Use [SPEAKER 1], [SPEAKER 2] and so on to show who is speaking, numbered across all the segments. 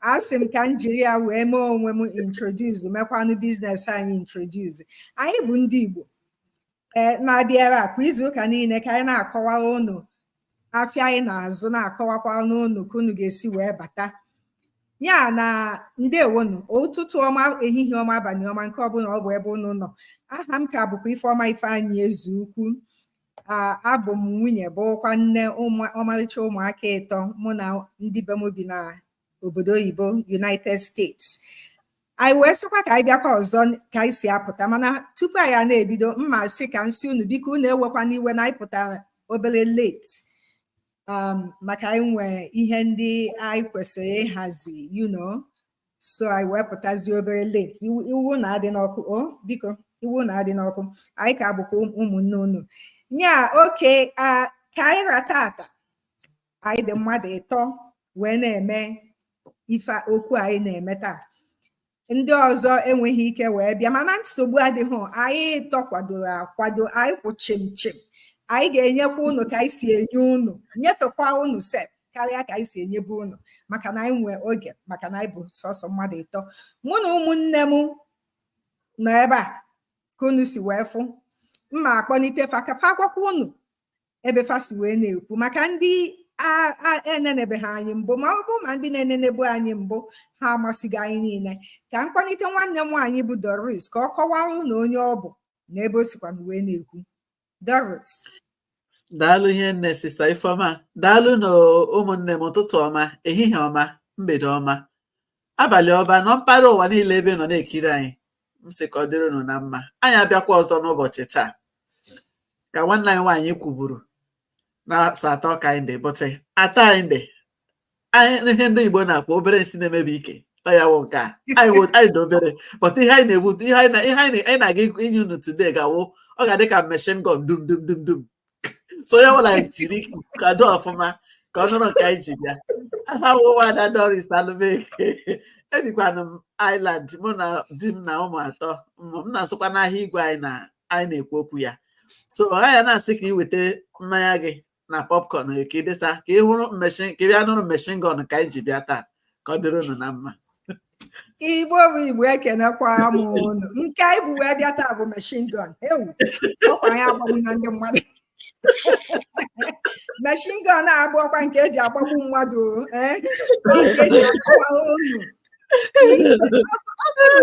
[SPEAKER 1] a sị m ka m jiri ya wee mee onwe m introduce mekwanụ biznes anyị introduce anyị bụ ndị Igbo ee na-abịa ebe a kwa izu ụka niile ka anyị na-akọwara unu afịa anyị na-azụ na-akọwakwanụ unu ka unu ga-esi wee bata ya na ndewonu ụtụtụ ọma ehihie ọma abalị ọma nke ọbụla ọ bụ ebe unu nọ aha m ka bụkwa Ifeọma Ifeanyị Ezeukwu abụ m nwunye bụrụkwa nne ọmarịcha ụmụaka ịtọ mụ na ndị be m bi na obodo oyibo United States anyị wee sịkwa ka anyị bịakwa ọzọ ka anyị si apụta mana tupu anyị a na-ebido m ma-asị ka m sị unu biko unu ewekwana iwe na anyị pụtara obere late um, maka anyị nwee ihe ndị anyị kwesịrị ịhazi you know so anyị wee pụtazie obere late iwe unu adịna ọkụ o biko iwe unu adịna ọkụ anyị ka bụkwa ụmụnne unu nya okay ka anyị ra taata anyị dị mmadụ ịtọ wee na-eme ife okwu anyị na-eme taa ndị ọzọ enweghị ike wee bịa mana nsogbu adịghị anyị ịtọ kwadoro akwado anyị kwụ chim chim anyị ga-enyekwa unu ka anyị si enye unu nyefekwa unu sef karịa ka anyị si enyebu unu maka na anyị nwee oge maka na anyị bụ sọsọ mmadụ ịtọ mụ na ụmụnne m nọ ebe a ka unu si wee fụ m ma-akpọnite fa ka fa gwakwa unu ebe fa si wee na-ekwu maka ndị enenebeghị anyị mbụ ma ọ bụ ma ndị na-enenebu anyị mbụ ha amasịghị anyị niile ka m kpọnite nwanne m nwaanyị bụ Doris ka ọ kọwara unu onye ọ bụ na ebe o sikwa wee na-ekwu Doris.
[SPEAKER 2] daalụ hinne sista Ifeọma daalụnụ ụmụnne m ụtụtụ ọma ehihie ọma mgbede ọma abalị ọma na mpaghara ụwa niile ebe unu nọ na-ekiri anyị m sị ka ọ dịrị unu na mma anyị abịakwa ọzọ n'ụbọchị taa ka nwanne anyị nwaanyị kwuburu na asatọ ka anyị dị but atọ anyị dị anyị ihe ndị Igbo na-akpọ obere nsị na-emebi ike ọ ya wụ nke a anyị wụ- anyị dị obere but ihe anyị na-egbu ihe anyị na- ihe anyị na- anyị na-aga ịgụ- inye unu today ga-awụ ọ ga-adị ka machine gun dum dum dum dum so ya wụla anyị jiri kwado ọfụma ka ọ nụrụ nke anyị ji bịa aha m wụkwa Ada Doris Alụmeke ebikwanụ m Ireland mụ na di m na ụmụ atọ ụmụ m na-azụkwanụ ahịa igwe anyị na anyị na-ekwu okwu ya so ọ ya na-asị ka ị weta mmanya gị na popcorn gị ka ị desa ka ị hụrụ machine ka ị bịa nụrụ machine gun ka anyị ji bịa taa ka ọ dịrị unu na mma igbo
[SPEAKER 1] bụ igbo ekenekwa m unu nke anyị bu wee bịa taa bụ machine gun ewo ọkwa anyị agbagbuna ndị mmadụ machine gun a abụrọkwa nke eji agbagbu mmadụ o, ee ọ nke eji agbagbu unu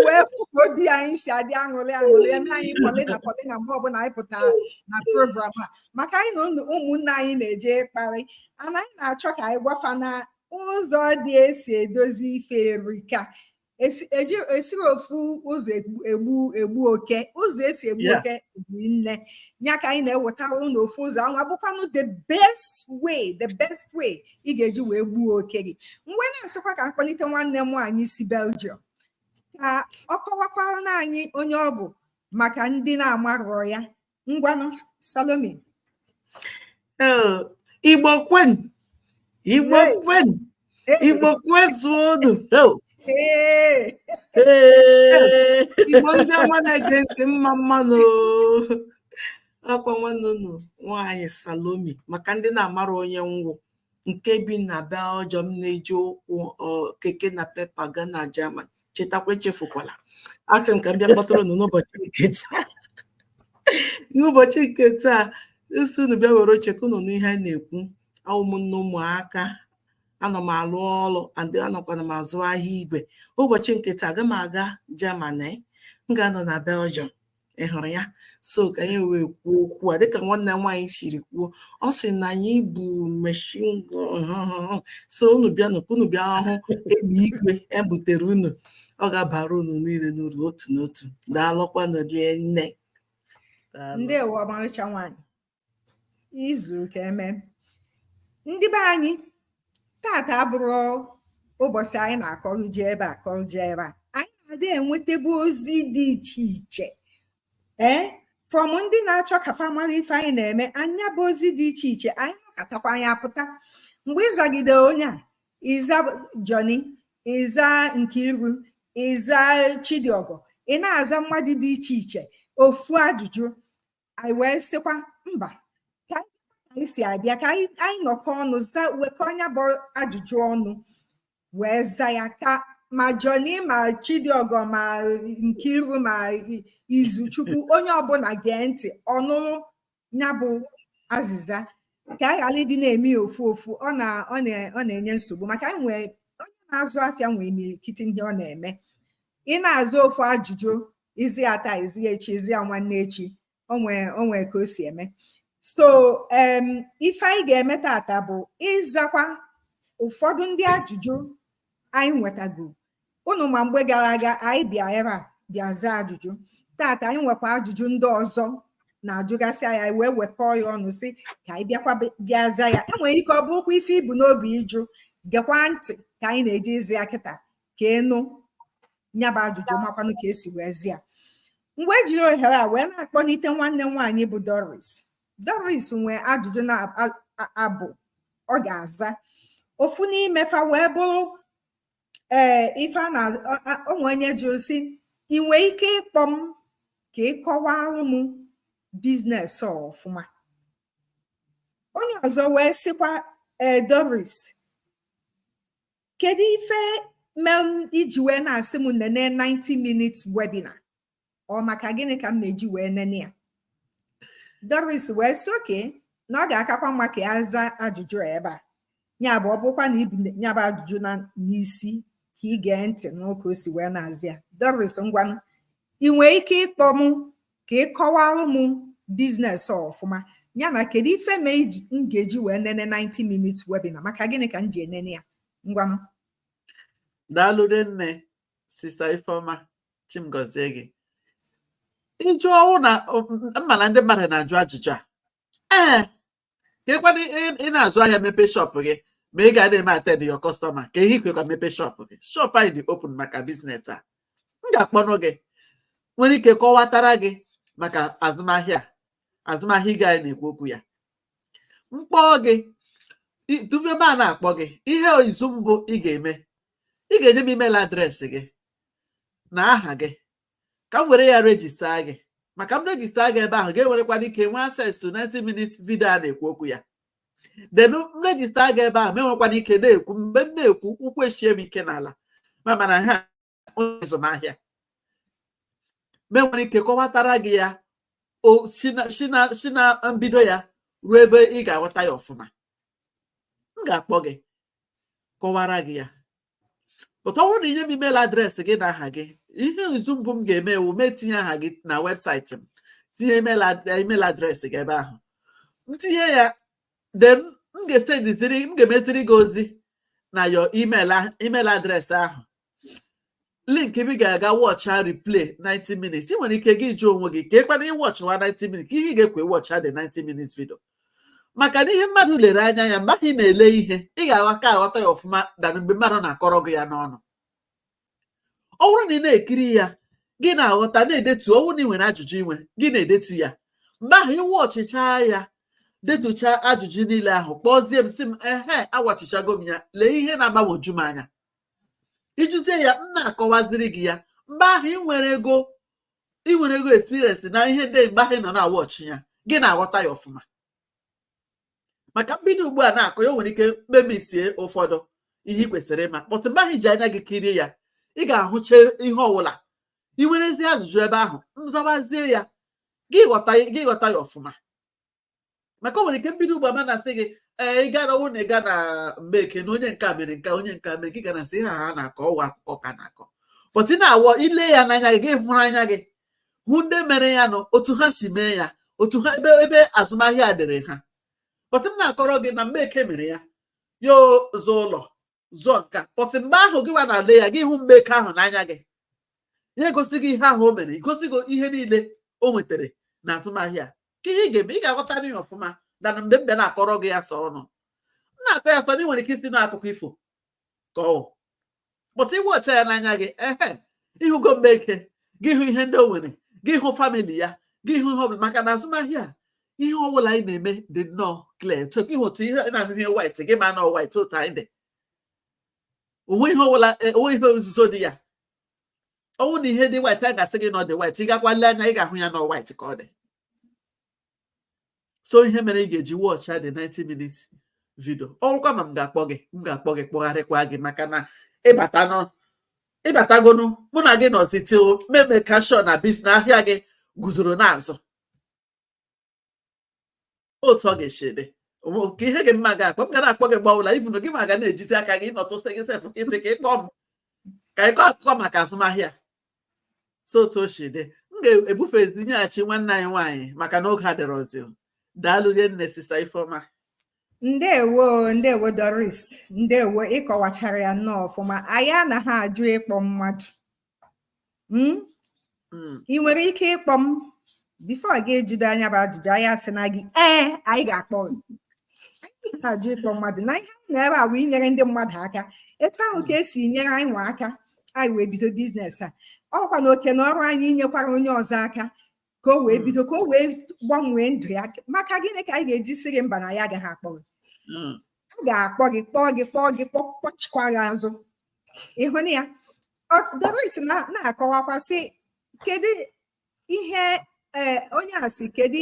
[SPEAKER 1] wee fụ ka obi anyị si adị aṅụrị aṅụrị eme anyị polina polina mgbe ọbụla anyị pụtara na program a maka anyị na ụmụnne anyị na-eje ịkparị ana anyị na-achọ ka anyị gwa fa na ụzọ dị esi edozi ife erika esirọ ofu ụzọ egbu oke ụzọ esi egbu oke erinne ya ka anyị na-ewetara unu ofu ụzọ anwa bụkwanụ the best way the best way ị ga-eji wee gbuo oke gị m wee na-asịkwa ka m kpọlite nwanne m nwaanyị si Belgium ka ọ kọwakwaranụ anyị onye ọ bụ maka ndị na-amarọ ya ngwanụ Salome Igbo
[SPEAKER 2] kwenu Igbo kwenu Igbo kwezuonu
[SPEAKER 3] Igbo ndị ọma na-ege ntị mma mma nụ ọkwa nwanne unu nwaanyị Salome maka ndị na-amara onye m wụ nke bi na Belgium na-eji ụkwụ keke Napep aga na Germany chetakwa echefukwala a sị m ka m bịa kpọtụrụ unu n'ụbọchị nke taa n'ụbọchị nke taa a sị unu bịa were oche ka unu nụ ihe a na-ekwu a wụ m nne ụmụaka anọ m alụ ọrụ and anọkwana m azụ ahịa igwe ụbọchị nke taa aga m aga Germany m ga-anọ na Belgium ị hụrụ ya so ka anyị wee kwuo okwu a dịka nwanne nwaanyị siri kwuo ọ sị na anyị bu machine so unu bịa nụkwa unu bịa hụ egbe igwe ebutere unu ọ ga-abara unu niile n'uru otu n'otu daalụkwanụ rinne
[SPEAKER 1] ndewo ọmarịcha nwaanyị izu ka eme ndị be anyị tata abụrọ ụbọsị anyị na-akọrọ je ebe a kọrọ je ebe a anyị na-adị enwetebe ozi dị iche iche ee from ndị na-achọ ka fa mara ife anyị na-eme nya bụ ozi dị iche iche anyị nọkatakwa anyị apụta mgbe ịzagide onye a ịza Johnny ịza Nkiru ịza Chidiọgọ ị na-aza mmadụ dị iche iche ofu ajụjụ anyị wee sịkwa mba ka anyị si abịa ka anyị nọkọ ọnụ wekọ nya bụ ajụjụ ọnụ wee za ya ka ma Johnny ma Chidiọgọ ma Nkiru ma Izuchukwu onye ọbụla gee ntị ọ nụrụ nya bụ azịza ka a ghara ịdị na-eme ofu ofu ọ na-enye nsogbu maka e nwee onye na-azụ afịa nwee imirikiti ihe ọ na-eme ị na-aza ofu ajụjụ ị za ya taa ị za ya echi ị za ya nwanne echi o nwe ka o si eme so um, ife anyị ga-eme tata bụ ịzakwa ụfọdụ ndị ajụjụ anyị nwetago unu ma mgbe gara aga anyị bịa ebe a bịa zaa ajụjụ tata anyị nwekwa ajụjụ ndị ọzọ na-ajụgasị anyị wee wekọọ ya ọnụ sị ka anyị bịakwa bịa zaa ya enwere ike ọ bụrụkwa ife i bu n'obi ịjụ gekwa ntị ka anyị na-eje ịza ya kịta ka ị nụ nyabụ ajụjụ makwanụ ka esi wee za ya m wee jiri ohere a wee na-akpọlite nwanne m nwaanyị bụ Doris Doris nwee ajụjụ naabọ ọ ga-aza ofu n'ime fa wee bụrụ ee ife a na o nwe onye jụrụ sị ị nwee ike ịkpọ m ka ị kọwara m biznes a ọfụma onye ọzọ wee sịkwa ee Doris kedu ife mere i ji wee na-asị m nene 90 minutes webinar ọ maka gịnị ka m na-eji wee nene ya Doris wee sị oke na ọ ga-akakwa mma ka ya zaa ajụjụ ebe a nya bụ ọ bụkwa na i bu nyabụ ajụjụ n'isi ka ị gee ntị nụ ka o si wee na-aza ya Doris ngwanụ ị nwee ike ịkpọ m Ka ị kọwara m biznes a ọfụma. Ya na kedu ife mee m ga-eji wee nene 90 minutes webinar? Maka gịnị ka m ji enene ya? Ngwanụ.
[SPEAKER 2] Daalụ rinne sista Ifeoma Chi m gọzie gị. Ịjụ ọ wụ na m ma na ndị mmadụ na-ajụ ajụjụ a. Ee, kee kwanụ ị na-azụ ahịa mepe shọpụ gị ma ị ga na-eme attend your customer kee ihe i jikwa mepe shọpụ gị shọpụ anyị dị open maka biznes a m ga-akpọnụ gị nwere ike kọwatara gị maka azụmahịa azụmahịa nke anyị na-ekwu okwu ya m kpọọ gị tupu m ana-akpọ gị ihe izu mbụ ị ga-eme ị ga-enye m email adreesị gị na aha gị ka m were ya rejista gị maka m rejista gị ebe ahụ gị enwerekwanụ ike nwee access to 90 minutes video a na-ekwu okwu ya then m rejista gị ebe ahụ m enwekwanụ ike na-ekwu mgbe m na-ekwu ụkwụ eshie m ike n'ala ma mara na onye azụmahịa m enwere ike kọwatara gị ya si na mbido ya ruo ebe ị ga-aghọta ya ọfụma m ga-akpọ gị kọwara gị ya but ọ bụrụ na i nye m email adreesị gị na aha gị ihe izu mbụ m ga-eme wụ m etinye aha gị na webụsaịtị m tinye email adreesị gị ebe ahụ m tinye ya then m ga-esendiziri m ga-emeziri gị ozi na your email adreesị ahụ link ebe ị ga-aga wọcha replay 90 minutes ị nwere ike gị jụọ onwe gị kee kwanụ ị wọchịwa 90 minutes kee ihe ị ga-eji wee wọcha the 90 minutes video maka na ihe mmadụ lere anya ya mgbe ị na-ele ihe ị ga-aka aghọta ya ọfụma than mgbe mmadụ na-akọrọ gị ya n'ọnụ ọ bụrụ na ị na-ekiri ya gị na-aghọta na-edetu ọ wụrụ na ị nwere ajụjụ i nwe gị na-edetu ya mgbe ahụ ị wọchịcha ya detucha ajụjụ niile ahụ kpọzie m sị m ehe awọchịchago m ya lee ihe na-agbagwoju m anya ị jụzie ya m na-akọwaziri gị ya mgbe ahụ ị nwere ego ị nwerego experience na ihe ndị ahụ mgbe ahụ ị nọ na-awọchị ya gị na-aghọta ya ọfụma maka mbido ugbu a na-akọ ya o nwere ike m missie ụfọdụ ihe ị kwesịrị ịma but mgbe ahụ i ji anya gị kirie ya ị ga-ahụcha ihe ọwụla ị nwerezi ajụjụ ebe ahụ m zawazie ya gị ghọta ya ọfụma maka o nwere ike mbido ugbu a m na-asị gị ee ị gara ọ wụ na ị ga na Mgbeke na onye nke a mere nke a, onye nke a mere nke ị ga na-asị ha ha na-akọ ọ wụ akụkọ ka a na-akọ but ị na-awọ ile ya n'anya gị gị hụrụ anya gị hụ ndị mere ya na otu ha si mee ya otu ha ebe ebe azụmahịa a dịrị ha but m na-akọrọ gị na Mgbeke mere ya ya zụọ ụlọ zụọ nke a but mgbe ahụ gị nwa na-ale ya gị hụ Mgbeke ahụ n'anya gị ya egosi gị ihe ahụ o mere igosi gị ihe niile o nwetara na azụmahịa ka ihe ị ga-eme ị ga-aghọtanụ ihe ọfụma than mgbe m bịa na-akọrọ gị ya sọ ọnụ m na-akọ ya sọ ọnụ ị nwere ike ịsị na ọ akụkọ ifo ka ọ wụ but ị wọchịa ya n'anya gị ehe ị hụgo Mgbeke gị hụ ihe ndị o nwere gị hụ famili ya gị hụ ihe ọbụla maka na azụmahịa ihe ọbụla anyị na-eme dị nnọọ clear so gị hụ otu ị na-ahụ ihe white gị ama na ọ white otu anyị dị o nweghị ihe ọbụla e, o nweghị ihe nzuzo dị ya ọ wụ na ihe dị white a ga-asị gị na ọ dị white ị gakwa lee anya ị ga-ahụ ya na ọ white ka ọ dị so ihe mere ị ga-eji wọchị ya the 90 minutes vidio ọ wụkwa ma m ga-akpọ gị m ga-akpọ gị kpọgharịkwa gị maka na ị batanụ ị batagonu mụ na gị nọzi til m make sure na bis na ahịa gị guzoro na-azụ otu ọ ga-esi dị ka ihe gị m ga-akpọ m ga na-akpọ gị mgbe ọwụla even gị nwa ga na-ejizi aka gị nọtụsị gị sef ị sị ka ị kpọọ m ka ị kọọ akụkọ maka azụmahịa so otu o si dị m ga-ebufe nyeghachi nwanne anyị nwaanyị maka na oge adịrọzi daalụ rinne sista ifeọma ndewo ndewo
[SPEAKER 1] doris ndewo ị kọwachara ya nnọọ ọfụma anyị anaghị ajụ ịkpọ mmadụ hmm? Hmm. ị nwere ike ịkpọ m bifo gị ejido anyị bụ ajụjụ anyị asị na gị ee anyị ga-akpọ gị anyị ajụ ịkpọ mmadụ na ihe anyị nọ ebe a wụ inyere ndị mmadụ aka etu ahụ ka e si nyere anyị nwa aka anyị wee bido biznes a ọ kwa na oke na ọrụ anyị inyekwara onye ọzọ aka ka o wee hmm. bido ka o wee gbanwee ndụ ya maka gịnị ka anyị ga-eji sị gị mba na anyị agaghị akpọ gị hmm. a ga-akpọ gị kpọọ gị kpọọ gị kpọchikwa gị azụ ịhụ na ya Doris na-akọwakwa sị kedu ihe eh, onye a sị kedu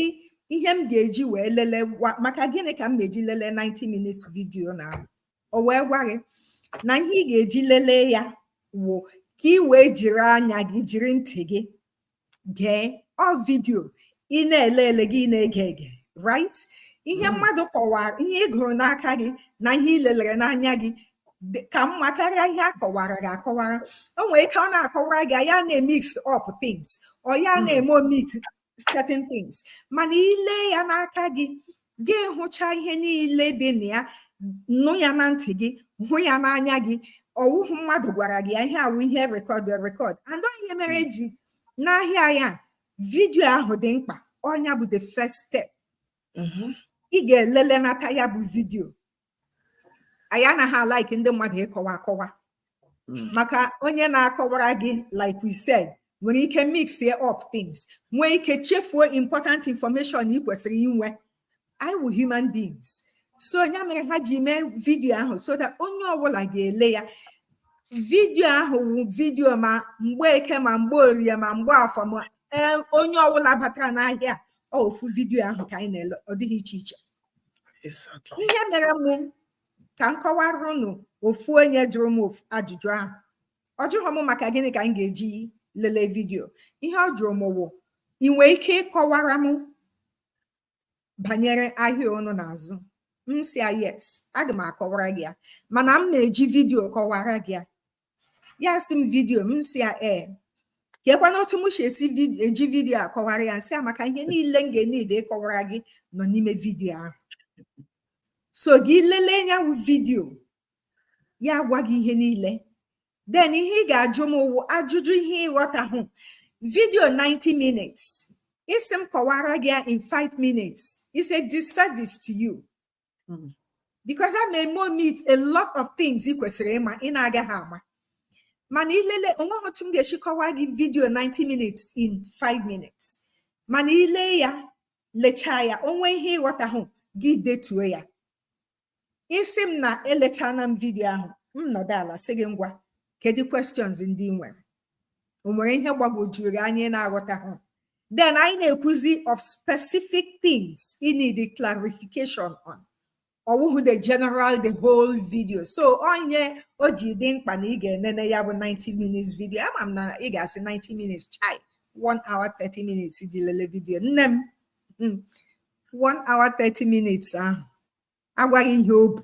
[SPEAKER 1] ihe m ga-eji wee lelee maka gịnị ka m ga-eji lelee 90 minutes vidio na o wee gwa gị na ihe ị ga-eji lelee ya wụ ka ị wee jiri anya gị jiri ntị gị gee ọ vidio ị na-ele ele gị na-ege ege right ihe mm. mmadụ kọwara ihe ị gụrụ n'aka gị na ihe ị lelere n'anya gị ka mma karịa ihe a kọwara gị akọwara o nwere ike ọ na-akọwara gị ya na-emix up things or ya hmm. na-eme omit certain things mana i le ya n'aka gị ga-ahụcha ihe niile dị na ya nụ ya na ntị gị hụ ya n'anya gị ọ wụhụ mmadụ gwara gị ya ihe a wụ ihe rekọd rekọd and ọ ihe mere hmm. eji n'ahịa ya vidio ahụ dị mkpa ọ nya bụ the first step mm-hmm. ị ga-elele nata ya bụ vidio anyị anaghị alaiki ndị mmadụ ịkọwa akọwa hmm. maka onye na-akọwara gị like we said nwere ike mix up things nwee ike chefuo important information ị kwesịrị inwe anyị wụ human beings so ya mere ha ji mee vidio ahụ so that onye ọbụla ga-ele ya vidio ahụ wụ vidio ma mgbe eke ma mgbe orie ma mgbe afọ ma onye ọbụla batara n'ahịa ofu vidio ahụ ka anyị na-ele ọ dịghị iche iche ihe mere mụ ka m kọwara unu ofu onye jụrụ m ofu ajụjụ ahụ ọ jụrụ m maka gịnị ka m ga-eji lelee vidio ihe ọ jụrụ m wụ ị nwee ike ịkọwara m banyere ahịa unu na-azụ m sị ya yes aga m akọwara gị ya mana m na-eji vidio kọwara gị ya ya sị m vidiyo m sị ya ee kekwanụ otu m si eji vidiyo akọwara ya m sị ya maka ihe niile m ga-eneed ịkọwara gị nọ n'ime vidiyo ahụ so gị lelee ya wụ vidiyo ya gwa gị ihe niile then ihe ị ga-ajụ m wụ ajụjụ ihe ị ghọtahụ vidiyo 90 minutes ị sị m kọwara gị ya in 5 minutes is a disservice to you hmm. because I may eme omit a lot of things ị kwesịrị ịma ị na-agaghị ama mana i lele o nweghị otu m ga-esi kọwaa gị vidio 90 minutes in 5 minutes mana i le ya lechaa ya o nwee ihe ị ghọtahụ gị detuo ya ị sị m na elechaana m vidio ahụ m nọdụ ala sị gị ngwa kedu questions ndị i nwere o nwere ihe gbagwojuru gị anya ị na-aghọtahụ then anyị na-ekwuzi of specific things i need the clarification on ọ wụhụ the general the whole video so ọ ihe o ji dị mkpa na ị ga-enene ya bụ 90 minutes video ama m na ị ga-asị 90 minutes chai 1 hour 30 minutes ji lele video nne m hmm. 1 hour 30 minutes ahụ agwa gị ihe o bu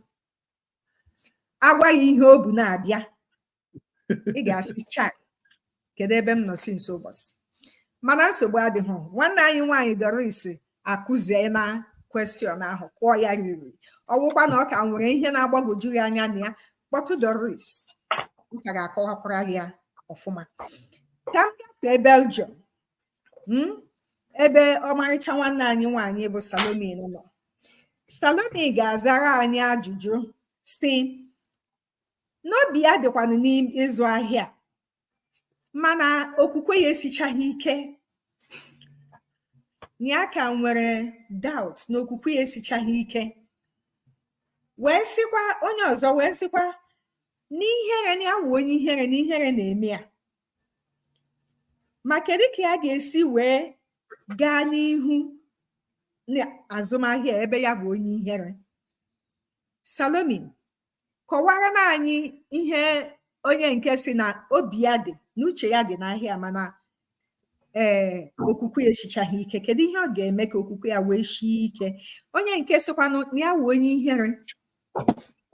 [SPEAKER 1] agwa gị ihe o bu na-abịa ị ga-asị chai kedu ebe m nọ since ụbọchị mana nsogbu adịghị nwanne anyị nwaanyị Doris akụziena question ahụ kụọ ya riri ọ wụkwa na ọ ka nwere ihe na-agbagwoju ya anya nya kpọtụ Doris ọ ka ga-akọwakwara ya ọfụma ka m gafee Belgium hmm, ebe ọmarịcha nwanne anyị nwaanyị bụ Salome nọ Salome ga-azara anyị ajụjụ si n'obi ya dịkwanụ n'ịzụ ahịa mana okwukwe ya esichaghị ike na ya ka nwere doubt na okwukwe ya esichaghị ike wee sịkwa onye ọzọ wee sịkwa n'ihere na ya wụ onye ihere na ihere na-eme ya ma kedu ka ya ga-esi wee gaa n'ihu n'azụmahịa ebe ya bụ onye ihere Salome kọwara na anyị ihe onye nke sị na obi ya dị n'uche ya dị n'ahịa mana ee eh, okwukwe ya esichaghị ike kedu ihe ọ ga-eme ka okwukwe ya wee sie ike onye nke sịkwanụ na ya wụ onye ihere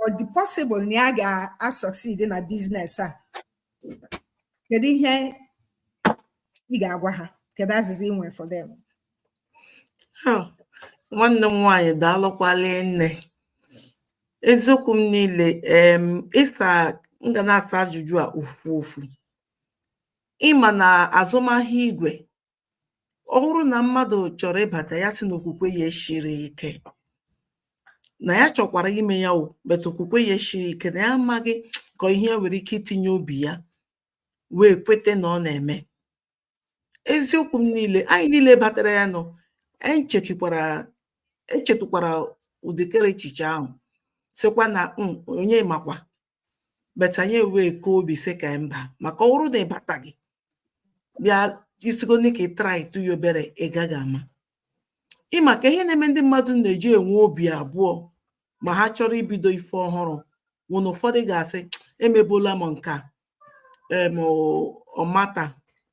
[SPEAKER 1] ọ dị possible na ya ga-asucceed na business a kedu ihe ị ga-agwa ha kedu azịza ị nwere for them
[SPEAKER 3] Oh, nwanne m nwaanyị daalụkwala nne eziokwu m niile em ịsa m ga na-asa ajụjụ a ofu ofu ị ma na azụmahịa igwe ọ bụrụ na mmadụ chọrọ ịbata ya sị na okwukwe ya esiri ike na ya chọkwara ime ya o but okwukwe ya esiri ike na ya amaghị ka ihe nwere ike itinye obi ya wee kweta na ọ na-eme eziokwu m niile anyị niile batara ya nọ anyị chekikwara echetụkwara ụdịkere echiche ahụ sịkwa na hmm, onye makwa but anyị wee kaa obi sị ka mba maka ọ bụrụ na ị bataghị bịa isigo ka ị try tụ ya obere ị gaghị ama ị makwa ihe na-eme ndị mmadụ na-eji enwe obi abụọ ma ha chọrọ ibido ife ọhụrụ wụ na ụfọdụ ga-asị emebula m nke a em ọmata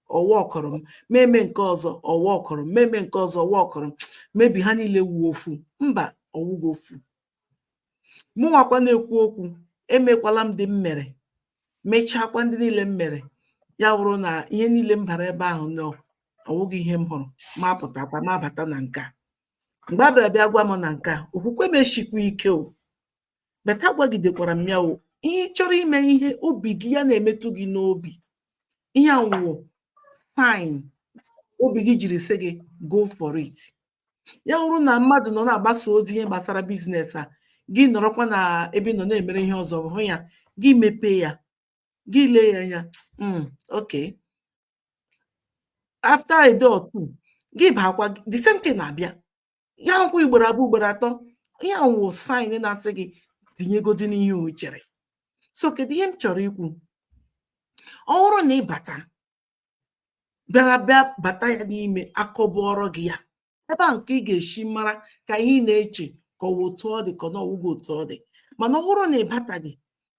[SPEAKER 3] ọ workụrọ m meme nke ọzọ ọ workụrọ m meme nke ọzọ ọ workụrọ m maybe ha niile wụ ofu mba ọ wụghị ofu mụnwakwa na-ekwu okwu emekwala m ndị m mere mechaakwa ndị niile m mere ya wụrụ na ihe niile m bara ebe ahụ na ọ wụghị ihe m hụrụ ma pụtakwa ma bata na nke a mgbe a bịara bịa gwa m na nke a okwukwe m eshikwa ike o but a gwagidekwara m ya o ihe ị chọrọ ime ihe obi gị ya na-emetụ gị n'obi ihe ahụ wụ sign obi gị jiri sị gị go for it ya bụrụ na mmadụ nọ na-agbasa ozi ihe gbasara business a gị nọrọkwa na ebe ị nọ na-emere ihe ọzọ hụ ya gị mepee ya gị lee ya anya hmm, ok after a day or two gị baakwa the same thing na-abịa ya wụkwa ugboro abụọ ugboro atọ ihe ahụ wụ sign na-asị gị tinyegodi n'ihe o chere so kedu ihe m chọrọ ikwu ọ bụrụ na ị bata bịara bịa bata ya n'ime akọbụọrọ gị ya ebe a nke ị ga-esi mara ka ihe ị na-eche ka ọ wụ otu ọ dị ka ọ na ọ wụghị otu ọ dị mana ọ bụrụ na ị bataghị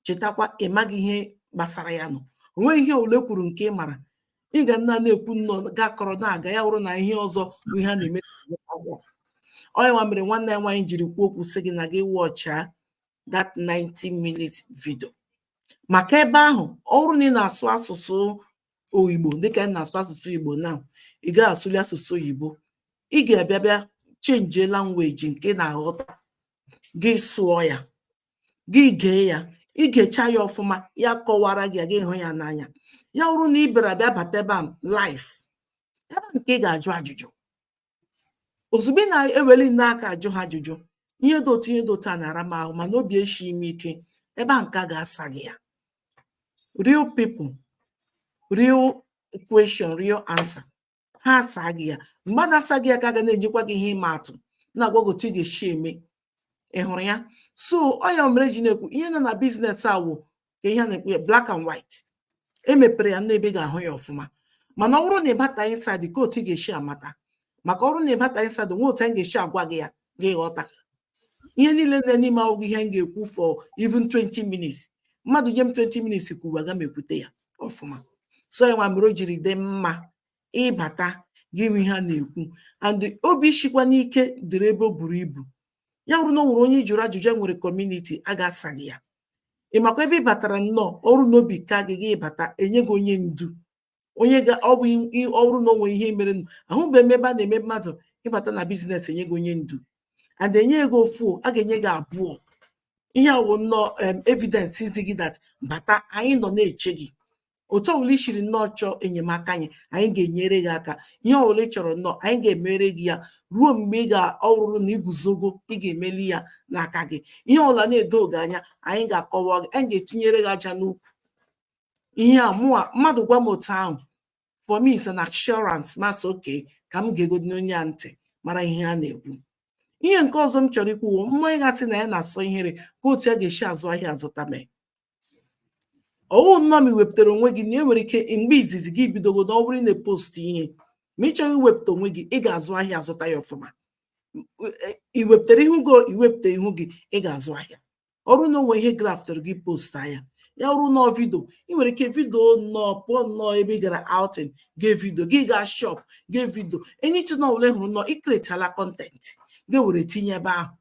[SPEAKER 3] chetakwa ị maghị ihe gbasara ya nọ o nweghị ihe ọwụla e kwuru nke ị mara ị ga na na-ekwu nnọọ ga-akọrọ na-aga ya wụrụ na ihe ọzọ bụ ihe a na-eme ọ ya nwa mere nwanne ya nwaanyị jiri kwuo okwu sị gị na gị wọchaa that 90 minutes video maka ebe ahụ ọ bụrụ na ị na-asụ asụsụ igbo dịka ị na-asụ asụsụ igbo na ị gaghị asụli asụsụ oyibo ị ga-abịa bịa chenjie language nke ị na-aghọta gị sụọ ya gị gee ya ị gechaa ya ọfụma ya kọwara gị gị hụ ya n'anya ya wụrụ na ị bịara bịa bata ebe a live ebe nke ị ga-ajụ ajụjụ ozugbo ị na-eweli nnọọ aka ajụ ha ajụjụ ihe dị otu ihe dị otu a na-ara m ahụ mana obi eshighị m ike ebe a nke a ga-asa gị ya real people real question real answer ha asaa gị ya mgbe a na-asa gị ya ka a ga na-enyekwa gị ihe ịma atụ na-agwa gị otu ị ga-esi eme ị hụrụ ya so ọ ya mere eji na-ekwu ihe nọ na business a wụ ka ihe a na-ekwu ya black and white emepere ya n'ebe ị ga-ahụ ya ọfụma mana ọ bụrụ na ị bata inside ka otu ị ga-esi amata maka ọ bụrụ na ị bata inside nwe otu anyị ga-esi agwa gị ya gị ghọta ihe niile nọ n'ime awụghị ihe m ga-ekwu for even 20 minutes mmadụ nye m 20 minutes kwuru agaghị m ekwute ya ọfụma so ya nwa mere o jiri dị mma ịbata gị nwe ihe a na-ekwu and obi shikwa n'ike dịrị ebe o buru ibu ya bụrụ na o nwere onye ị jụrụ ajụjụ e nwere kọmuniti a ga-asa gị ya ị makwa ebe ị batara nnọọ ọ bụrụ na obi ka gị gị bata enye gị onye ndu onye ga ọ bụrụ na o nwee ihe mere nụ ahụbeghị m ebe a na-eme mmadụ ịbata na business enye gị onye ndu and enye gị ofu a ga-enye gị abụọ ihe a wụ nnọọ evidence izi gị that bata anyị nọ na-eche gị otu ọbụla i siri nnọọ chọọ enyemaka anyị anyị ga-enyere gị aka ihe ọbụla ị chọrọ nnọọ anyị ga-emere gị ya ruo mgbe ị ga-ahụ na i guzogo ị ga-emeli ya n'aka gị ihe ọbụla na-edoghị gị anya anyị ga-akọwa gị anyị ga-etinyere gị aja n'ukwu ihe a mụwa mmadụ gwa m otu ahụ for me is an assurance m asị okay ka m geegodi onye a ntị mara ihe a na-ekwu ihe nke ọzọ m chọrọ ikwu mmadụ ga-asị na ya na-asọ ihere ka otu a ga-esi azụ ahịa azụta mee ọ wụ nnọọ ma i wepụtara onwe gị na e nwere ike mgbe izizi gị bidogo na ọ bụrụ na post ihe ma ị chọghị iwepụta onwe gị ị ga-azụ ahịa azụta ya ọfụma i wepụtara ihu gị i wepụtaghị ihu gị ị ga-azụ ahịa ọ bụrụ na o nwee ihe graftụrụ gị post ya ya wụrụ nnọọ video ị nwere ike video nnọọ pụọ nnọọ ebe ị gara outing gị video gị gaa shop gị video anything ọbụla hụrụ nnọọ ị createla content gị were tinye ebe ahụ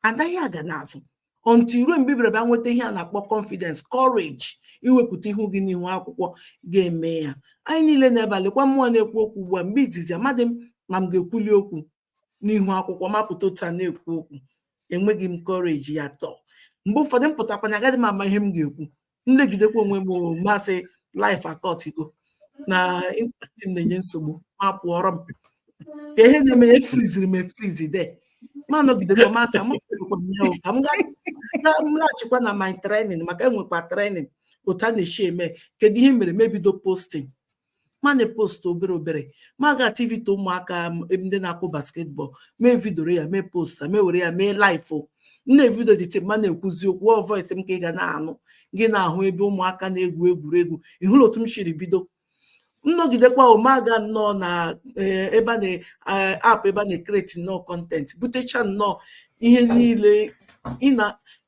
[SPEAKER 3] anaghị aga n'azụ until ruo mgbe ị bịara bịa nweta ihe a na-akpọ confidence courage iwepụta ihu gị n'ihu akwụkwọ ga-eme ya anyị niile na-agbalịkwa mụa na-ekwu okwu ugbu a mgbe izizi amadị m ma m ga-ekwuli okwu n'ihu akwụkwọ m apụta otu a na-ekwu okwu enweghị m courage at all mgbe ụfọdụ m pụtakwanụ agaghị m ama ihe m ga-ekwu m legidekwa onwe m m asị live akọtigo na ịntanetị m na-enye nsogbu m apụọ rọ m ka ihe na-eme ya efriziri m efrizi there m anọgidekwa m asị amụkwa m ya ka m laghachikwa na my training maka e nwekwa training otu a na-esi eme kedu ihe m mere m ebido posting m ana-epost obere obere m aga activity ụmụaka ndị na-akụ basketball m evidioro ya m eposta m ewere ya mee live nne vidio edit m ana-ekwuzi okwu ọ voice m ka ị ga na-anụ gị na-ahụ ebe ụmụaka na-egwu egwuregwu ị hụrụ otu m siri bido m nọgidekwa mụ aga nnọọ na eh, ebe app eh, ebe a na-ekreti nnọọ content butecha nnọọ ihe niile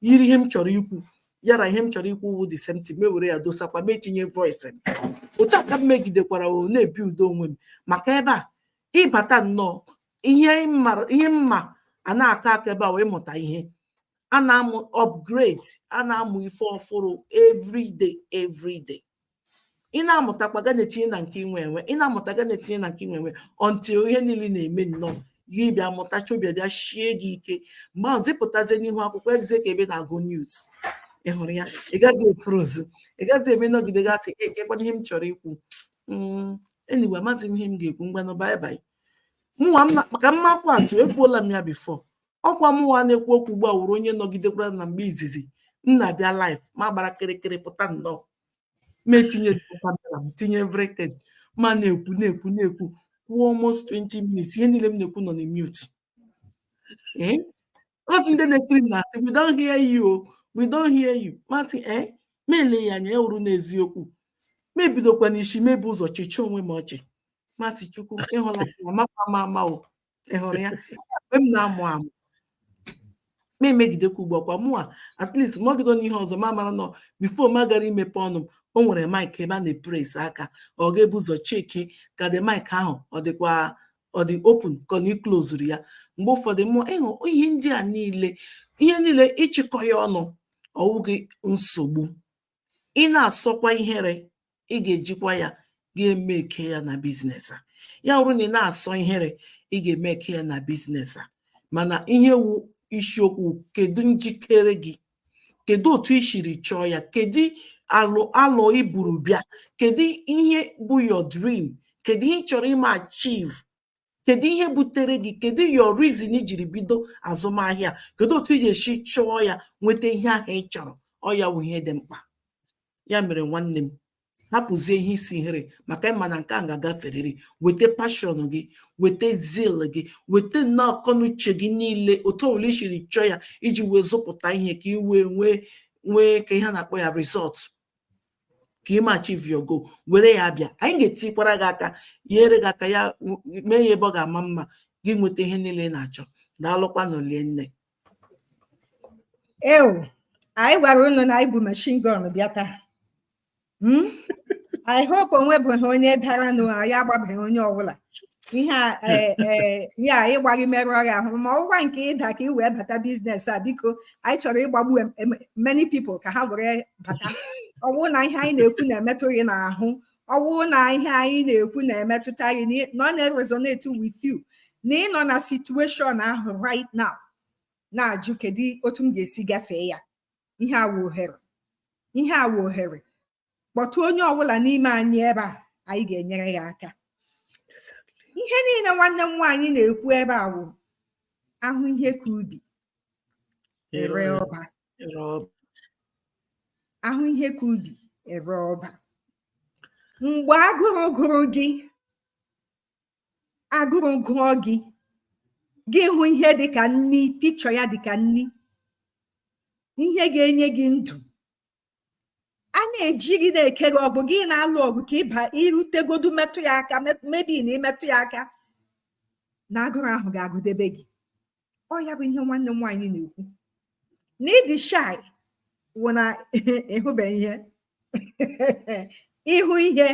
[SPEAKER 3] yiri ihe m chọrọ ikwu ya na ihe m chọrọ ikwu wu the same thing m ewere ya dosakwa m etinye voice m otu a ka m megidekwara na-ebuild onwe m maka ebe a ị bata nnọọ ihe mma ihe mma a na-aka aka ebe a wu ịmụta ihe a na-amụ upgrade a na-amụ ife ọfụrụ every day every day ị na-amụtakwa gị ana-etinye na nke i nwe enwe ị na-amụta gị ana-etinye na nke i nwe enwe until ihe niile na-eme nnọọ gị bịa mụtacha obi bịa shie gị ike mgbe ahụzi ị pụtazie n'ihu akwụkwọ eyizie ka ebe ị na-agụ news ị hụrụ ya ị gaghị efrozu ị gaghị eme nọgide gị asị ee kekwanụ ihe m chọrọ ikwu hmm, anyway amaghị m ihe m ga-ekwu ngwanụ bye bye mụnwa maka m makwa atụ ekwuola m ya before ọkwa mụnwa na-ekwu okwu ugbu a wụrụ onye nọgidekwara na mgbe izizi m na-abịa live m agbara kịrịkịrị pụta nnọọ m etinye camera m tinye everything m ana-ekwu na-ekwu na-ekwu kwuo almost 20 minutes ihe niile m na-ekwu nọ na mute ee until ndị na-ekiri m na-asị we don't hear you o we don't hear you m asị ee m elee ya anya ya wụrụ n'eziokwu m ebidokwa n'isi m ebu ụzọ chịchaa onwe m ọchị m asị chukwu ị hụla ya makwa m ama o ị hụrụ ya mgbe m na-amụ amụ mụ emegidekwa ugbu a kwa mụa at least ma ọ dịghị n'ihe ọzọ m amara na before mụ agara imepe ọnụ m o nwere mic ebe a na-epress aka ọ ga-ebu ụzọ cheki ka dị mic ahụ ọ dịkwa ọ dị open ka ọ na i klozuru ya mgbe ụfọdụ mụọ ị hụ ihe ndị a niile ihe niile ị chịkọọ ya ọnụ ọ wụghị nsogbu ị na-asọkwa ihere ị ga-ejikwa ya ga-emake ya na business a ya bụrụ na ị na-asọ ihere ị ga-emake ya na business a mana ihe wu isiokwu kedu njikere gị kedu otu i siri chọọ ya kedu alọ alọ i buru bịa kedu ihe bụ your dream kedu ihe ị chọrọ ime achieve kedu ihe butere gị kedu your reason i jiri bido azụmahịa kedu otu ị ga-esi chọọ ya nweta ihe ahụ ị chọrọ ọ ya wụ ihe dị mkpa ya mere nwanne m hapụzie ihe isi ihere maka ị ma na nke a ga-agaferịrị weta passion gị weta zeal gị weta nnọọ akọnuche gị niile otu ọbụla i siri chọọ ya iji wee zụpụta ihe ka ị wee nwee nwee ka ihe a na-akpọ ya result ka ị ma achieve your goal were ya bịa anyị ga-etikwara gị aka nyere gị aka ya mee ya ebe ọ ga-ama mma gị nweta ihe niile ị na-achọ daalụkwa na olie nne
[SPEAKER 1] ewu anyị gwara unu na anyị bụ machine gun bịa taa hmm? I hope o nwebeghị onye dara nụ anyị agbabeghị onye ọbụla ihe a ee e, e, anyị gbaa gị merụọ gị ahụ ma ọ wụkwa nke ị da ka ị wee bata business a biko anyị chọrọ ịgbagbu many people ka ha were bata ọ wụ na ihe anyị na-ekwu na-emetụ gị n'ahụ ọ wụ na ihe anyị na-ekwu na-emetụta gị na ọ na-resonate with you na ị nọ na situation ahụ right now na-ajụ kedu otu m ga-esi gafee ya ihe a wụ ohere ihe a wụ ohere kpọtụ onye ọbụla n'ime anyị ebe a anyị ga-enyere gị aka ihe niile nwanne m nwaanyị na-ekwu ebe a wụ a hụ ihe ka ubi e ree ọba a hụ ihe ka ubi e ree ọba mgbe agụrụ gụrụ gị agụrụ gụọ gị gị hụ ihe dịka nni picture ya dịka nni ihe ga-enye gị ndụ a na-eji gị na-eke gị agbụ gị na-alụ ọgụ ka ị bịarutegodu metụ ya aka maybe na i metụ ya aka na agụrụ ahụ ga-agụdebe gị ọ ya bụ ihe nwanne m nwaanyị na-ekwu na ịdị shy wụ na ị hụbeghị ihe ị hụ ihe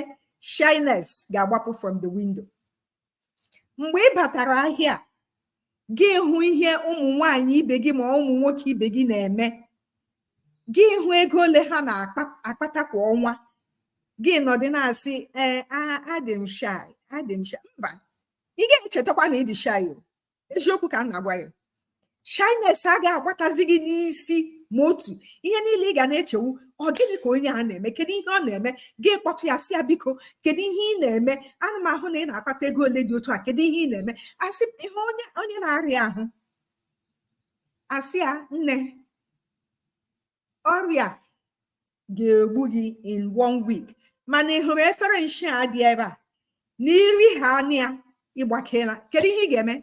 [SPEAKER 1] shyness ga-agbapụ from the window mgbe ị batara ahịa gị hụ ihe ụmụ nwanyị ibe gị ma ụmụ nwoke ibe gị na-eme gị hụ ego ole ha na-akpata kwa ọnwa gị nọdị na-asị ee adị m shy adị m shy mba ị ga-echetakwa na ịdị shy eziokwu ka m na-agwa gị shyness agaghị agbatazi gị n'isi ma otu ihe niile ị ga na-eche wụ ọ gịnị ka onye a na-eme kedu ihe ọ na-eme gị kpọtụ ya sị ya biko kedu ihe ị na-eme ana m ahụ na ị na-akpata ego ole dị otu a kedu ihe ị na-eme a sị ihe onye onye na-arịa ahụ a sị ya nne ọrịa ga-egbu gị in one week mana ị hụrụ efere nshi a dị ebe a na iri ha anya ya ị gbakela kedu ihe ị ga-eme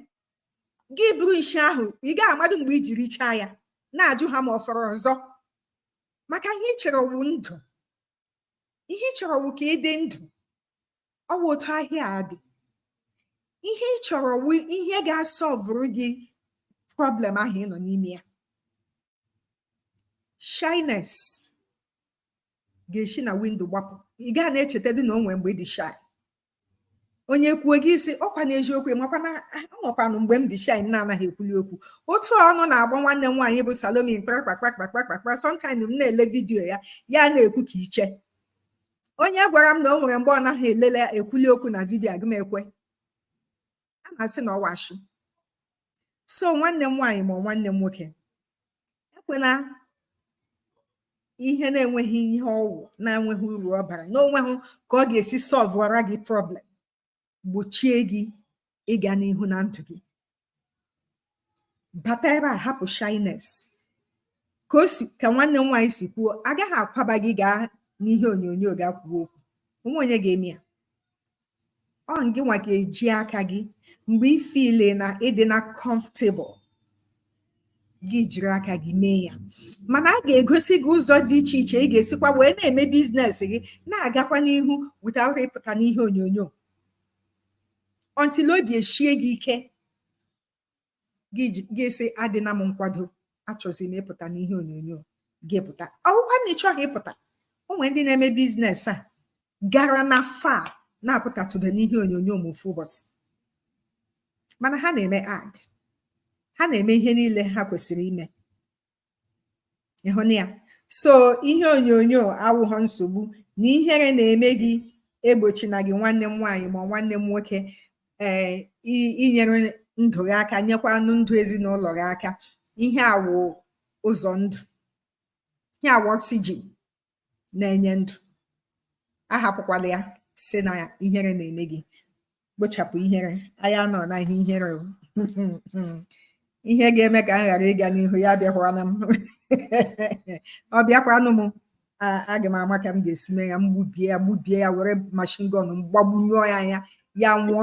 [SPEAKER 1] gị buru nshi ahụ ị gaa amadụ mgbe i ji richaa ya na-ajụ ha ma ọ fọrọ ọzọ maka ihe ị chọrọ wụ ndụ ihe ị chọrọ wụ ka ị dị ndụ ọ wụ otu ahịa a dị ihe ị chọrọ wụ ihe ga-asọvụrụ gị problem ahụ ị nọ n'ime ya shyness ga-esi na window gbapụ ị gaa na-echeta dị na o nwere mgbe ị dị shy onye kwuo gị sị ọkwa n'eziokwu makwa na o nwekwanụ mgbe m dị shy m na-anaghị ekwuli okwu otu ọnụ na-agba nwanne m nwaanyị bụ Salome kpakpakpakpakpakpa sometimes m na-ele vidiyo ya ya na-ekwu ka iche onye gwara m na o nwere mgbe ọ naghị elele ekwuli okwu na vidiyo agaghị m ekwe aga m asị na ọ wụ ashị so nwanne m nwaanyị ma nwanne m nwoke ekwena ihe na-enweghị ihe ọ wụ na-enweghị uru ọ bara na o nweghị ka ọ ga-esi sọlvụra gị problem gbochie gị ịga n'ihu na ndụ gị bata ebe a hapụ shyness ka o si ka nwanne m nwaanyị si kwuo a gaghị akwaba gị gaa n'ihe onyonyo ga kwuo okwu o nweghị onye ga-eme ya ọ gịnwa ga-eji aka gị mgbe ị feel na ị dịna comfortable gị jiri aka gị mee ya mana a ga-egosi gị ụzọ dị iche iche ị ga-esikwa wee na-eme business gị na-agakwa n'ihu without ịpụta n'ihe onyonyo until obi eshie gị ike gị sị adịna m nkwado achọzi m ịpụta n'ihe onyonyo gị pụta ọ wụkwa na ị chọghị ịpụta o nwere ndị na-eme business a garana far na-apụtatụbe n'ihe onyonyo ma ofu ụbọchị mana ha na-eme ad ha na-eme ihe niile ha kwesịrị ime ị hụna ya so ihe onyonyo awụghọ nsogbu na ihere na-eme gị egbochina gị nwanne m nwaanyị ma nwanne m nwoke ee eh, inyere ndụ gị aka nyekwanụ ndụ ezinụlọ gị aka ihe a wụ ụzọ ndụ ihe a wụ oxygen na-enye ndụ ahapụkwala ya sị na ihere na-eme gị kpochapụ ihere anyị anọ na ihe ihere ihe ga-eme ka m ghara ịga n'ihu ya abịakwala m ọ bịakwanụ m aga m ama ka m ga-esi mee ya m gbubie ya gbubie ya were machine gun m gbagbunyụọ ya anya ya nwụọ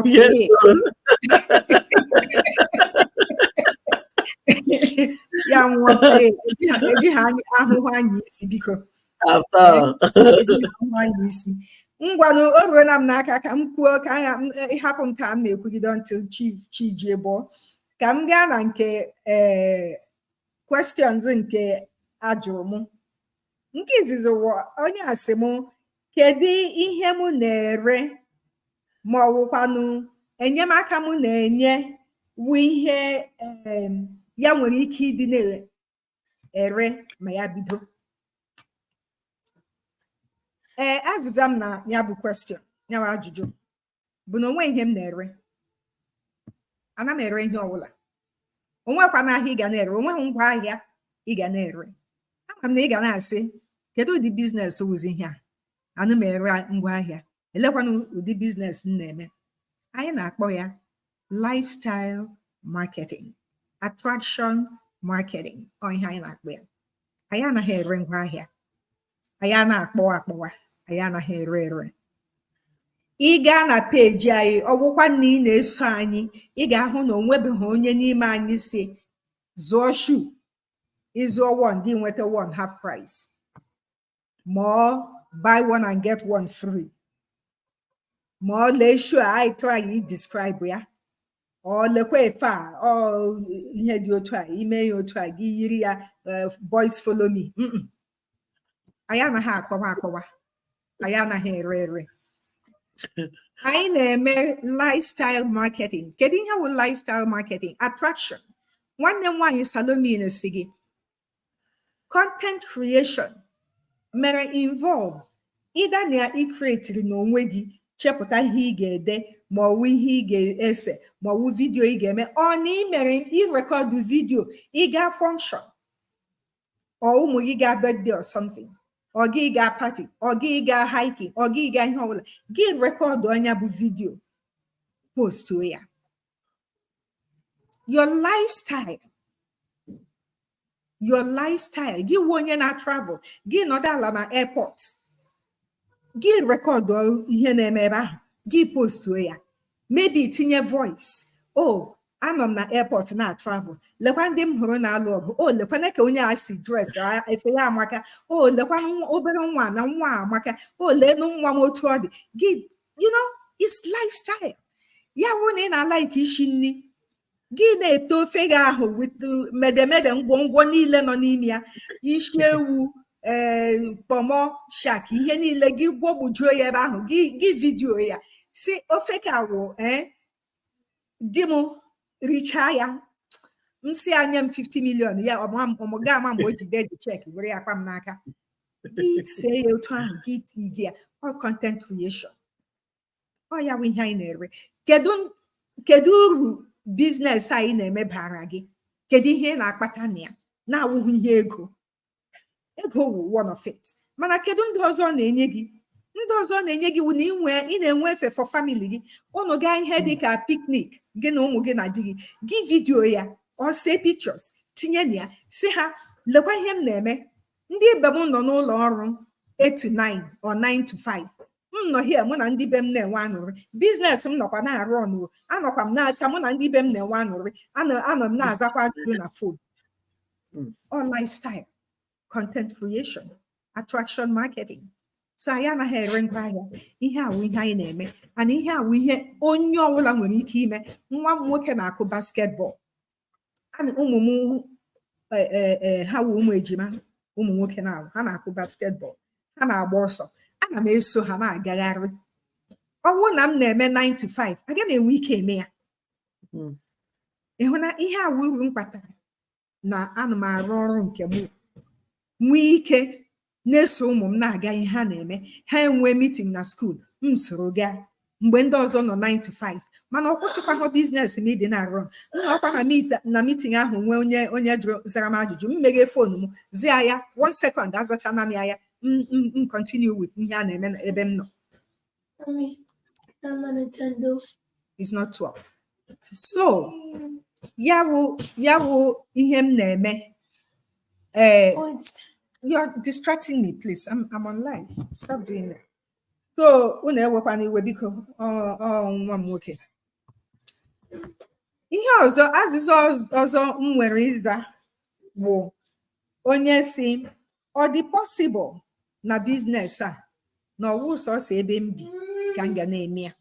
[SPEAKER 1] ya nwụọ ejighị ahụhụ anya isi biko anya isi ngwanụ o ruola m n'aka ka m kwuo ka ịhapụ m taa m na-ekwugide until chi jie bọọ ka m gaa na nke ee eh, questions nke ajụrụ m nke izizi wụ onye a sị m kedu ihe m na-ere ma ọ wụkwanụ enyemaka m na-enye wụ ihe em, ya nwere ike ịdị na-ere ma ya bido ee azịza m na ya bụ question ya bụ ajụjụ bụ na onweghị ihe m na-ere ana m ere ihe ọbụla onweghịkwanụ ahịa ị ga na-ere onweghị ngwa ahịa ị ga na-ere ama m na ị ga na-asị kedu ụdị biznes wụzi ihe a ana m ere ngwa ahịa elekwanụ ụdị biznes m na-eme anyị na-akpọ ya lifestyle marketing attraction marketing ọ ihe anyị na-akpọ ya anyị anaghị ere ngwa ahịa anyị ana-akpọwa akpọwa anyị anaghị ere ere ị gaa na peji anyị ọ wụkwa na ị na-eso anyị ị ga-ahụ na onwebeghị onye n'ime anyị sị zụọ shu ịzụọ one gị nweta one half price ma ọ buy one and get one free ma ọ lee shu a anyị try describe ya or lekwa efe a ọ ihe dị otu a ime ya otu a gị yiri ya eh, boys follow me anyị anaghị akpọwa akpọwa anyị anaghị ere ere anyị na-eme lifestyle marketing kedu ihe bụ lifestyle marketing attraction nwanne m nwaanyị salome na-asị gị content creation mere involve either na icreatiri n'onwe gị chepụta ihe ị ga-ede ma ọ wụ ihe ị ga-ese ma ọ wụ vidio ị ga-eme or na ị mere ịrekọdụ vidio ị gaa function or ụmụ gị gaa birthday or something or gị gaa party or gị gaa hiking or gị gaa ihe ọbụla gị rekọdụ ya bụ vidio postuo ya your lifestyle your lifestyle gị wụ onye na travel gị nọdụ ala na airport gị rekọdụ ihe na-eme ebe ahụ gị postuo ya maybe tinye voice oh anọ m na airport na travel lekwa ndị m hụrụ na-alụ ọgụ o oh, lekwanụ ka onye a si dress efe ya amaka o oh, lekwa obere nwa na nwa amaka o oh, leenụ nwa m otu ọ dị gị you know it's lifestyle ya wụrụ na ị na-alike isi nri gị na-ete ofe gị ahụ with medemede ngwọngwọ niile nọ n'ime ya isi ewu ee eh, kpọmọ shaki ihe niile gị gwọgbujuo ya ebe ahụ gị vidiyo ya sị ofe ka wụ ee eh, di m richaa ya m sị ya nye m 50 million ya ọmụ ga ama mgbe o ji dee the chek were ya kpa m n'aka gị see ya otu ahụ gị tii gị ya ọ content creation ọ ya wụ ihe anyị na-ere kedu kedu uru biznes anyị na-eme baara gị kedu ihe ị na-akpata na ya na-awụghị ihe ego ego wụ one of it mana kedu ndị ọzọ ọ na-enye gị ndị ọzọ ọ na-enye gị wụ na ị nwe ị na-enwe efe for family gị ụnụ gaa ihe dị ka picnic gị na ụmụ gị na di gị gị vidiyo ya or see pictures tinye na ya sị ha lekwa ihe m na-eme ndị ibe m nọ n'ụlọ ọrụ 8 to 9 or 9 to 5 m nọ here mụ na ndị be m na-enwe aṅụrị biznes m nọkwa na-arun anọkwa m n'aka mụ na ndị be m na-enwe aṅụrị anọ anọ m na-azakwa ajụjụ na fon hmm. ọ lifestyle content creation attraction marketing so anyị anaghị ere ngwa ahịa ihe a wụ ihe anyị na-eme and ihe a wụ ihe onye ọbụla nwere ike ime nwa m nwoke na-akụ basketball and ụmụ m e, e, e, ha wụ ụmụ ejima ụmụ nwoke na ha na-akụ basketball ha na-agba ọsọ ana m eso ha na-agagharị ọ wụ na m na-eme 9 to 5 aga m enwe ike eme ya hmm. ị hụna ihe a wụ uru m kpatara na ana m arụ ọrụ nke m nwee ike na-eso ụmụ m na-aga ihe ha na-eme ha enwee mitin na skuul m soro gaa mgbe ndị ọzọ nọ 9 to 5 mana ọ kwụsịkwaghị biznes m ịdị na-arun m nọkwa na mitin ahụ nwee onye onye jụrụ zara m ajụjụ m meghee fon m zia ya one second azachana m ya m continue with ihe a na-eme ebe m nọ Mommy, I'm on Nintendo. It's not 12. So, ya wụ ya wụ ihe m na-eme. Eh, Oh, it's you're distracting me, please. I'm, I'm on live. Stop doing that. So, unu ewekwana iwe biko ọ- ọ nwa m nwoke. Ihe ọzọ, azịza ọz- ọzọ m nwere ịza wụ onye sị ọ dị possible na biznes a na ọ wụ sọsọ ebe m bi ka m ga na-eme ya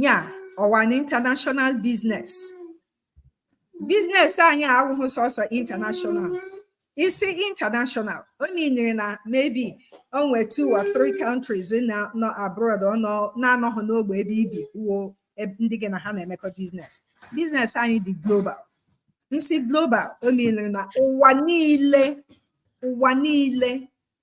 [SPEAKER 1] ya ọ wụ an international biznes biznes anyị awụghị sọsọ international ị sị international ọ meanịrị na maybe o nwee two or three countries nọ abroad ọ nọ na-anọghị n'ogbe ebe i bi wuo ndị gị na ha na-emekọ biznes biznes anyị dị global m sị global o menyere na ụwa niile ụwa niile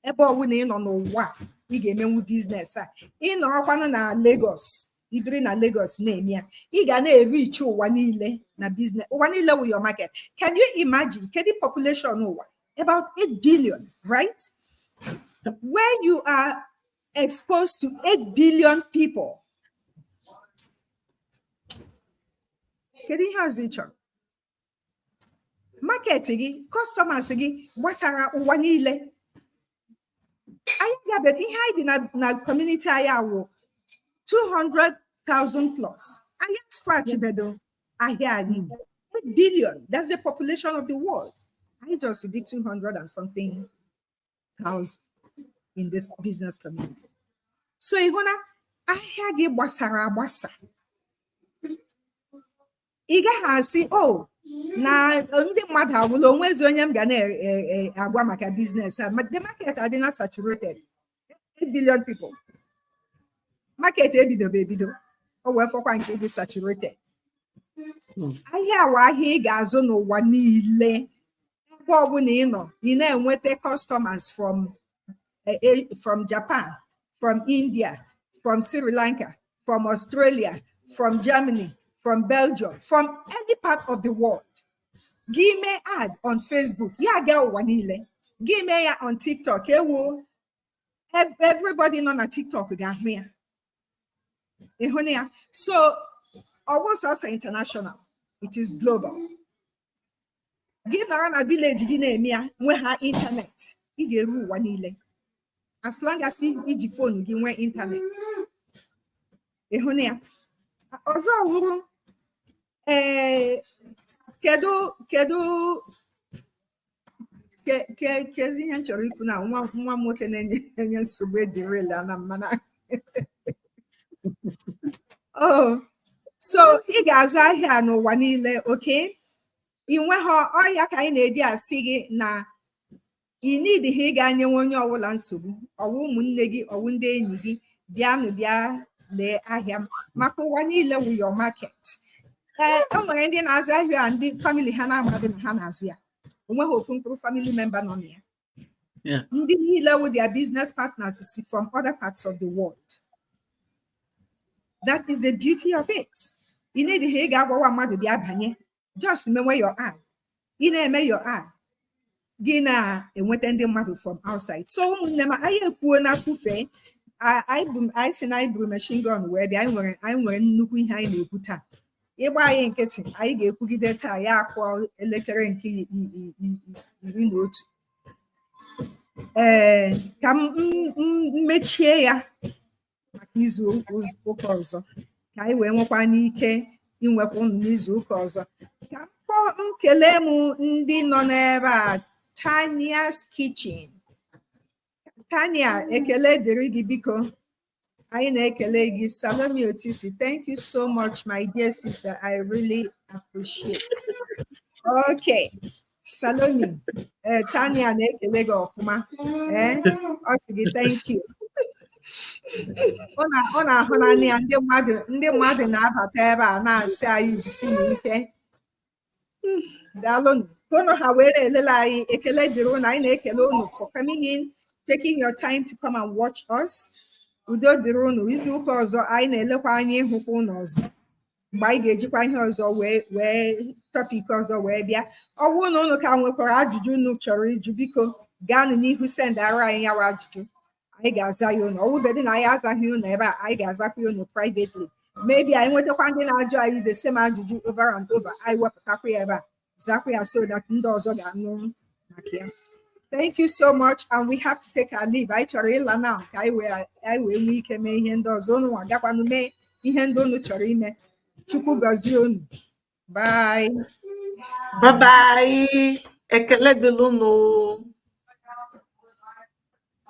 [SPEAKER 1] ebe ọbụla ị nọ n'ụwa ị ga-emenwu biznes a ị nọrọkwanụ na Lagos i biri na Lagos na-eme ya ị ga na-erichi ụwa niile na biznes ụwa niile wụ your market can you imagine kedu population ụwa about 8 billion right where you are exposed to 8 billion people kedu ihe ọzọ ị chọrọ market gị customers gị gbasara ụwa niile anyị gabe ihe anyị dị na community anyị a wụ 200,000 plus anyị scratch bedo ahịa anyị 8 billion that's the population of the world anyị just dị 200 and something thousand in this business community. So ị hụ na ahịa gị gbasara agbasa. Ị gaghị asị o oh, na ndị mmadụ agwụla onwezi onye m ga na-agwa maka biznes a the market adịna saturated 8 billion people market ebidobe ebido o wee fọkwa nke bụ saturated hmm. ahịa a wụ ahịa ị ga-azụ n'ụwa niile ebe ọbụla ị nọ ị na-enweta customers from eh, eh, from Japan from India from Sri Lanka from Australia from Germany from Belgium from any part of the world gị mee ad on Facebook ya agaa ụwa niile gị mee ya on TikTok ewo everybody nọ na TikTok ga-ahụ ya ị hụna ya so ọ wụ sọsọ international it is global gị nọrọ na vileji gị na-eme ya nwe ha ịntanetị ị ga-eru ụwa niile as long as i ji fon gị nwee ịntanetị ị hụna ya ọzọ wụrụ ee eh, kedu kedu kezi ihe m chọrọ ikwu na nwa m nwoke na-enye nsogbu edirila na mmana oh so ị ga-azụ ahịa n'ụwa niile okay ị nweghị ọ wụ ya ka anyị na-eji asị gị na ị needighị ịga nyewe onye ọbụla nsogbu ọ wụ ụmụnne gị ọ wụ ndị enyi gị bịanụ bịa lee ahịa m maka ụwa niile wụ your market ee e nwere ndị na-azụ ahịa a ndị famili ha na-amadị na ha na-azụ ya onweghị ofu mkpụrụ famili memba nọ na ya ndị niile wụ their business partners si from other parts of the world that is the beauty of it ị needighị ị ga-agwawa mmadụ bịa banye just mewe your ad ị na-eme your ad gị na-enweta ndị mmadụ from outside so ụmụnne m anyị ekwuo na kwufee anyị sị na anyị buru machine gun wee bịa anyị nwere nnukwu ihe anyị na-ekwu taa ị gba anyị nkịtị anyị ga-ekwugide taa ya akụọ elekere nke iri na otu ee ka m mechie ya maka izu ụka ọzọ ka anyị wee nwekwa n'ike inwekwa ụnụ n'izu ụka ọzọ ka m kpọ m kelee m ndị nọ n'ebe a Tania's Kitchen Tania ekele dịrị gị biko anyị na-ekele gị Salome Otisi thank you so much my dear sister I really appreciate okay Salome ee eh, Tania na-ekele gị ọfụma ee eh, ọ sị gị thank you ọ na-ahụ n'anya ndị mmadụ na-abata ebe a na-asị anyị jisi n'ike daalụ unu ha were elele anyị ekele dịrị ụnụ anyị na-ekele ụnụ for coming in taking your time to come and watch us udo dịrị ụnụ izu ụka ọzọ anyị na-elekwa anya ịhụkwa ụnụ ọzọ mgbe anyị ga-ejikwa ihe ọzọ wee wee topic ọzọ wee bịa ọ bụrụ na ụnụ ka nwekwara ajụjụ unu chọrọ ịjụ biko gaanụ n'ihu sendara anyị ya wụ ajụjụ anyị ga-aza ya ụnụ ọ wụbedị na anyị azaghị ụnụ ebe a anyị ga-azakwa ụnụ privately maybe anyị nwetakwa ndị na-ajụ anyị the same ajụjụ over and over anyị wepụtakwa ya ebe a zakwa ya so that ndị ọzọ ga-anụ maka ya thank you so much and we have to take our leave anyị chọrọ ịla now ka anyị wee nwee ike mee ihe ndị ọzọ unu agakwanụ mee ihe ndị unu chọrọ ime chukwu gọzie unu
[SPEAKER 3] bye
[SPEAKER 1] bye bye
[SPEAKER 3] ekele dịlụ unu